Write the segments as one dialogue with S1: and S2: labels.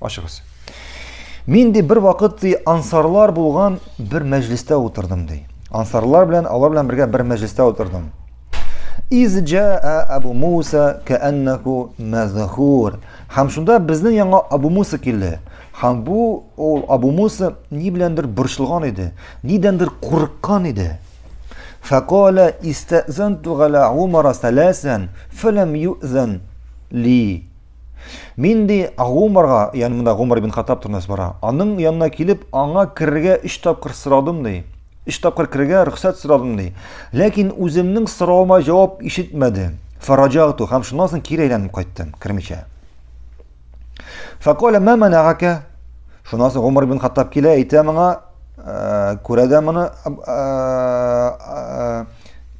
S1: Ачыгыз. Мин ди бер вакыт ди ансарлар булган бер мәҗлестә утырдым ди. Ансарлар белән алар белән бергә бер мәҗлестә утырдым. Из җаа Абу Муса кәаннаху мазхур. Һәм шунда безнең яңа Абу Муса килде. Һәм бу ул Абу Муса ни беләндер борчылган иде, нидәндер курыккан иде. Факала истазанту гала Умара саласан фалам юзан ли. Мин ди Гумарга, ягъни монда Гумар ибн Хаттаб турында бара. Аның янына килеп, аңа керергә өч тапкыр сорадым ди. Өч тапкыр керергә рөхсәт сорадым ди. Ләкин үземнең соравыма җавап ишетмәде. Фараҗату һәм шуннан соң кире әйләнеп кайттым, кермичә. Факоля ма манагака? Шуннан соң Гумар ибн Хаттаб килә, әйтә моңа, э, күрә дә моны э, э,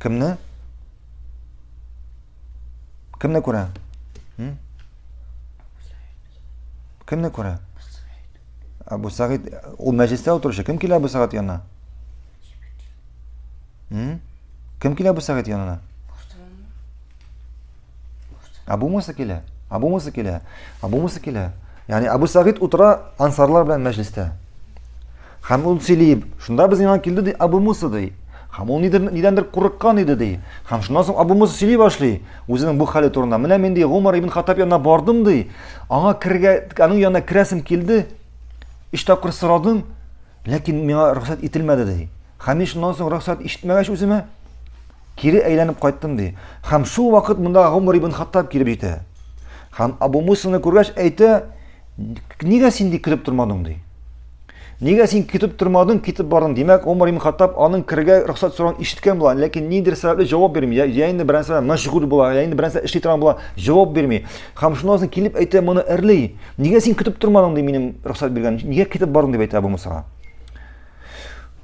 S1: кемне? Кемне күрә? Кемне күрә? Абу Сагид, ул мәҗлестә утыручы. Кем килә Абу Сагид янына? Кем килә Абу Сагид янына? Абу Муса килә. Абу Муса килә. Абу Муса килә. Яни Абу Сагид утыра ансарлар белән мәҗлестә. Һәм ул сөйли, шунда без яңа килде, ди, Абу Муса, ди. Һәм ул нидер, нидәндер курыккан иде, ди. Һәм шуннан соң Абу Муса сөйли башлый, үзенең бу хәле турында. Менә мин, ди, Гомар ибн Хаттаб янына бардым, ди. Аңа кергә, аның янына керәсем килде. Өч тапкыр сорадым, ләкин миңа рөхсәт ителмәде, ди. Һәм мин шуннан соң рөхсәт ишетмәгәч үземә, Кире әйләнеп кайттым, ди. Һәм шул вакыт монда Гомар ибн Хаттаб килеп җитә. Һәм Абу Мусаны күргәч әйтә, нигә син ди кереп тормадың, ди. Нигә син китеп тормадың, китеп бардың? Димәк, Умар ибн Хаттаб аның кергә рөхсәт сорауын ишеткән була, ләкин ниндидер сәбәпле җавап бирми. Я, я инде берәр сәбәп мәшгуль була, я инде берәр сәбәп эшли торган була, җавап бирми. Хәм шуннан соң килеп әйтә моны эрли. Нигә син китеп тормадың ди минем рөхсәт биргән? Нигә китеп бардың дип әйтә Абу Мусага.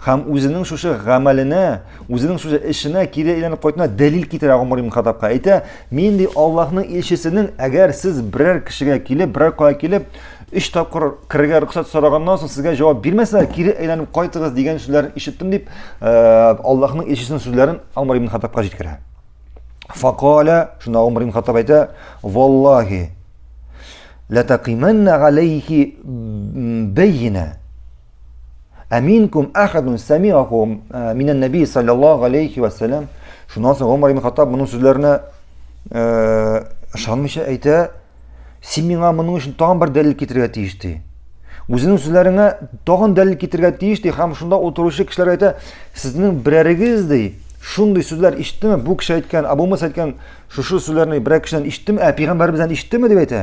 S1: Хәм үзенең шушы гамәленә, үзенең шушы эшенә кире әйләнеп кайтына дәлил китерә Гомар ибн Хаттабка. Әйтә, мин ди Аллаһның илчесенең, әгәр сез берәр кешегә килеп, берәр кая килеп, өч тапкыр керергә рөхсәт сораганнан соң сезгә җавап бирмәсә, кире әйләнеп кайтыгыз дигән сүзләрен ишеттем дип, э, Аллаһның илчесенең сүзләрен Гомар ибн Хаттабка җиткерә. Факаля, шунда Гомар ибн Хаттаб әйтә, "Валлаһи, латакиманна алейхи бәйина" Аминкум ахадун самиаху э, минан наби саллаллаху алейхи вассалам. Шуннан соң Умар ибн Хаттаб моның сүзләренә э, ышанмыйча әйтә, син миңа моның өчен тагын бер дәлил китерергә тиеш ди. Үзенең сүзләреңә тагын дәлил китерергә тиеш ди һәм шунда утыручы кешеләр әйтә, сезнең берәрегез ди, шундый сүзләр ишеттеме? Бу кеше әйткән, Абу Муса әйткән шушы сүзләрне берәр кешедән ишеттеме? Ә пәйгамбәребездән ишеттеме дип әйтә.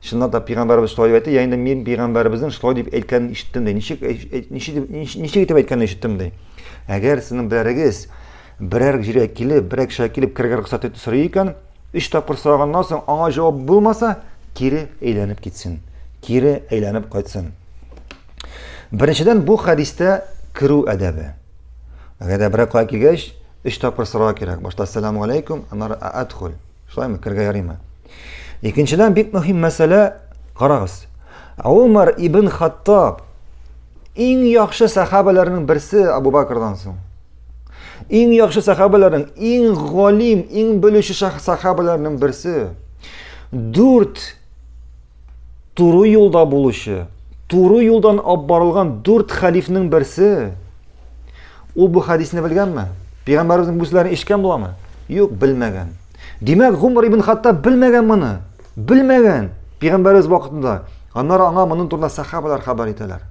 S1: Чыннан да пигамбәрбез шулай дип әйтте, я инде мин пигамбәрбезнең шулай дип әйткәнен ишеттем ди. Ничек ничек ничек итеп әйткәнен ишеттем ди. Әгәр сезнең берәрегез берәр җиргә килеп, берәр кешегә килеп кергән рөхсәт итеп сорый икән, өч тапкыр сораганнан соң аңа җавап булмаса, кире әйләнеп китсен. Кире әйләнеп кайтсын. Беренчедән бу хәдистә керү әдәбе. Әгәр дә берәр кая килгәч, өч тапкыр сорау кирәк. Башта салам алейкум, аннары адхул. Шулаймы, кергә ярыймы? Икенчедән бик мөһим мәсьәлә, карагыз. Умар ибн Хаттаб иң яхшы сахабаларның берсе Абу Бакрдан соң. Иң яхшы сахабаларның, иң галим, иң белүче сахабаларның берсе. Дүрт Туры юлда булучы, туры юлдан алып барылган дүрт хәлифнең берсе. Ул бу хәдисне белгәнме? Пәйгамбәребезнең бу сүзләрен ишеткән буламы? Юк, белмәгән. Димәк, Гумар ибн Хаттаб белмәгән моны. Белмәгән. Пәйгамбәребез вакытында. Аннары аңа моның турында сахабалар хәбәр итәләр.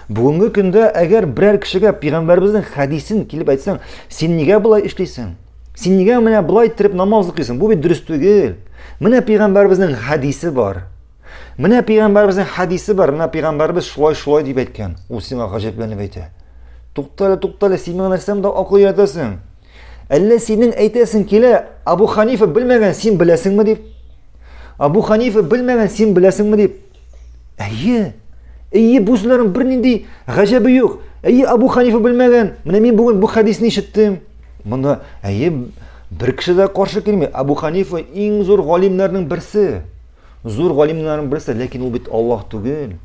S1: Бүгенге көндә әгәр берәр кешегә пәйгамбәребезнең хәдисен килеп әйтсәң, син нигә болай эшлисең? Син нигә менә болай иттереп намаз укыйсың? Бу бит дөрес түгел. Менә пәйгамбәребезнең хәдисе бар. Менә пәйгамбәребезнең хәдисе бар. Менә пәйгамбәребез шулай шулай дип әйткән. Ул сиңа гаҗәпләнеп әйтә. Туктале, туктале, син миңа нәрсәм дә акыл өйрәтәсең. Әллә синең әйтәсең килә, Абу Ханифа белмәгән, син беләсеңме дип? Абу Ханифа белмәгән, син беләсеңме дип? Әйе. Әйе, бу сүзләрнең бернинди гаҗәбе юк. Әйе, Абу Ханифа белмәгән. Менә мин бүген бу хәдисне ишеттем. Монда әйе бер кеше дә каршы килми. Абу Ханифа иң зур галимнәрнең берсе. Зур галимнәрнең берсе, ләкин ул бит Аллаһ түгел.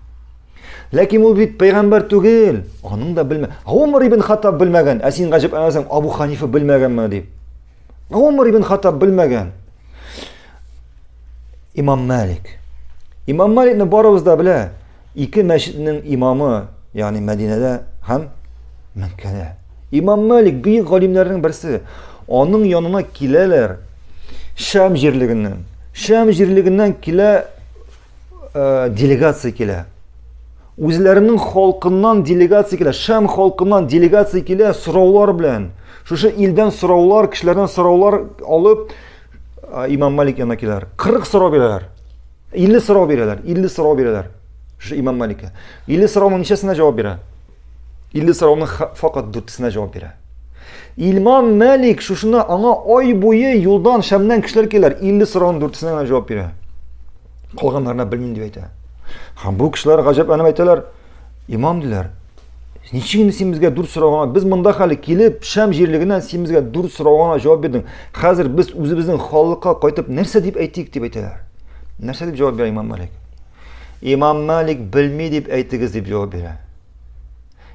S1: Ләкин ул бит пәйгамбер түгел. Аның да белмә. Умар ибн Хаттаб белмәгән. Ә син гаҗәп әмәсәң Абу Ханифа белмәгәнме дип. Умар ибн Хаттаб белмәгән. Имам Малик. Имам Маликны барыбыз да белә. Ике мәчетнең имамы, ягъни Мәдинәдә һәм Мәккәдә. Имам Малик бөек галимнәрнең берсе. Аның янына киләләр Шәм җирлегеннән. Шәм җирлегеннән килә э, делегация килә. Үзләренең халкыннан делегация килә, Шәм халкыннан делегация килә сораулар белән. Шушы илдән сораулар, кешеләрдән сораулар алып э, Имам Малик янына киләләр. 40 сорау бирәләр. 50 сорау бирәләр, 50 сорау бирәләр. Шушы Имам Маликка. 50 сорауның ничәсенә җавап бирә? 50 сорауның факат дүртесенә җавап бирә. Илмам Мәлик шушына аңа ай буе юлдан шәмнән кешеләр киләр, 50 сорауның дүртесенә генә җавап бирә. Калганнарына белмим дип әйтә. Һәм бу кешеләр гаҗәпләнеп әйтәләр, имам диләр, ничек инде син безгә дүрт сорауга, без монда хәле килеп, шәм җирлегеннән син безгә дүрт сорауга җавап бирдең. Хәзер без үзебезнең халыкка кайтып нәрсә дип әйтик дип әйтәләр. Нәрсә дип җавап бирә имам Мәлик? Имам Малик белми дип әйтегез дип җавап бирә.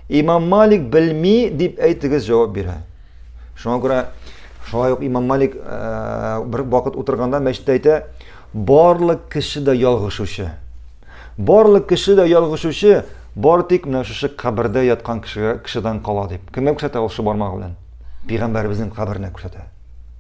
S1: Имам Малик белми дип әйтегез җавап бирә. Шуңа күрә шулай ук Имам Малик э, бер вакыт утырганда мәчеттә әйтә, барлык кеше дә ялгышучы. Барлык кеше дә ялгышучы, бар тик менә шушы кабердә яткан кешегә кешедән кала дип. Кемгә күрсәтә ул шул бармагы белән? Пәйгамбәребезнең каберенә күрсәтә.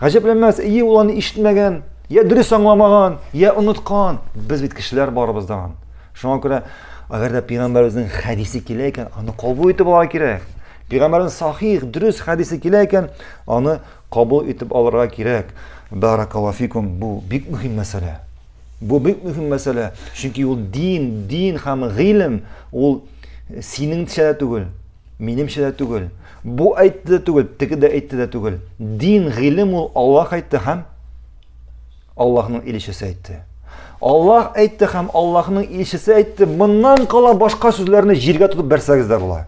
S1: Гаҗәпләнмәс, ие ул аны ишетмәгән, я дөрес аңламаган, я оныткан. Без бит кешеләр барыбыз да. Шуңа күрә, әгәр дә пәйгамбәребезнең хәдисе килә икән, аны кабул итеп алырга кирәк. Пәйгамбәрнең сахих, дөрес хәдисе килә икән, аны кабул итеп алырга кирәк. Баракалафикум, бу бик мөһим мәсьәлә. Бу бик мөһим мәсьәлә, чөнки ул дин, дин һәм гыйлем, ул синеңчә түгел. Минемчә дә түгел. Бу әйтте дә түгел, теге дә әйтте дә түгел. Дин, гыйлем ул Аллаһ әйтте һәм Аллаһның илчесе әйтте. Аллаһ әйтте һәм Аллаһның илчесе әйтте. Моннан кала башка сүзләрне җиргә тотып бәрсәгез дә була.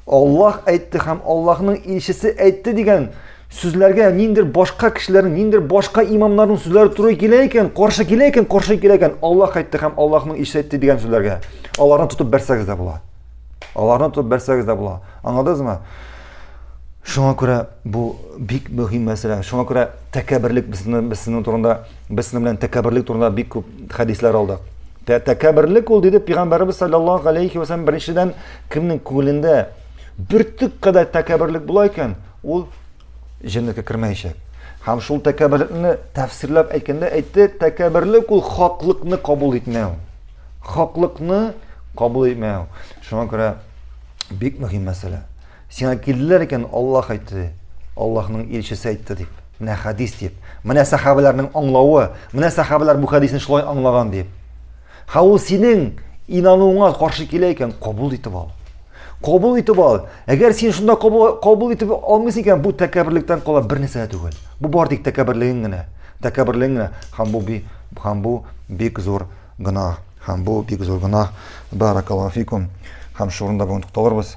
S1: Аллаһ әйтте һәм Аллаһның илчесе әйтте дигән сүзләргә ниндер башка кешеләрнең, ниндер башка имамнарның сүзләре туры килә икән, каршы килә икән, каршы килә икән, Аллаһ әйтте һәм Аллаһның илчесе әйтте дигән сүзләргә. Аларны тотып бәрсәгез дә була. Аларны тотып бәрсәгез дә була. Аңладыңызмы? Шуңа күрә бу бик мөһим мәсьәлә. Шуңа күрә тәкәбберлек безне безнең турында, безнең белән тәкәбберлек турында бик күп хәдисләр алдык. Тәкәбберлек ул диде пәйгамбәрбез саллаллаһу алейхи ва саллям беренчедән кемнең күңелендә бөртек кадәр тәкәбберлек була икән, ул җәннәткә кермәячәк. Һәм шул тәкәбберлекне тәфсирләп әйткәндә әйтте, тәкәбберлек ул хаклыкны кабул итмәү. Хаклыкны кабул итмәү. Шуңа күрә бик мөһим мәсьәлә. Сиңа килделәр икән, Аллаһ әйтте, Аллаһның илчесе әйтте дип. Менә хәдис дип. Менә сәхабәләрнең аңлавы, менә сәхабәләр бу хәдисне шулай аңлаган дип. Ха ул синең инануыңа каршы килә икән, кабул итеп ал. Кабул итеп ал. Әгәр син шунда кабул, кабул итеп алмыйсың икән, бу тәкәбберлектән кала бер нәрсә түгел. Бу бар тик тәкәбберлегең генә. Тәкәбберлегең генә. Һәм бу һәм бу бик зур Гөнаһ. Һәм бу бик зур гөнаһ. Бәарәкәллаһу фикум. Һәм шул урында бүген тукталырбыз.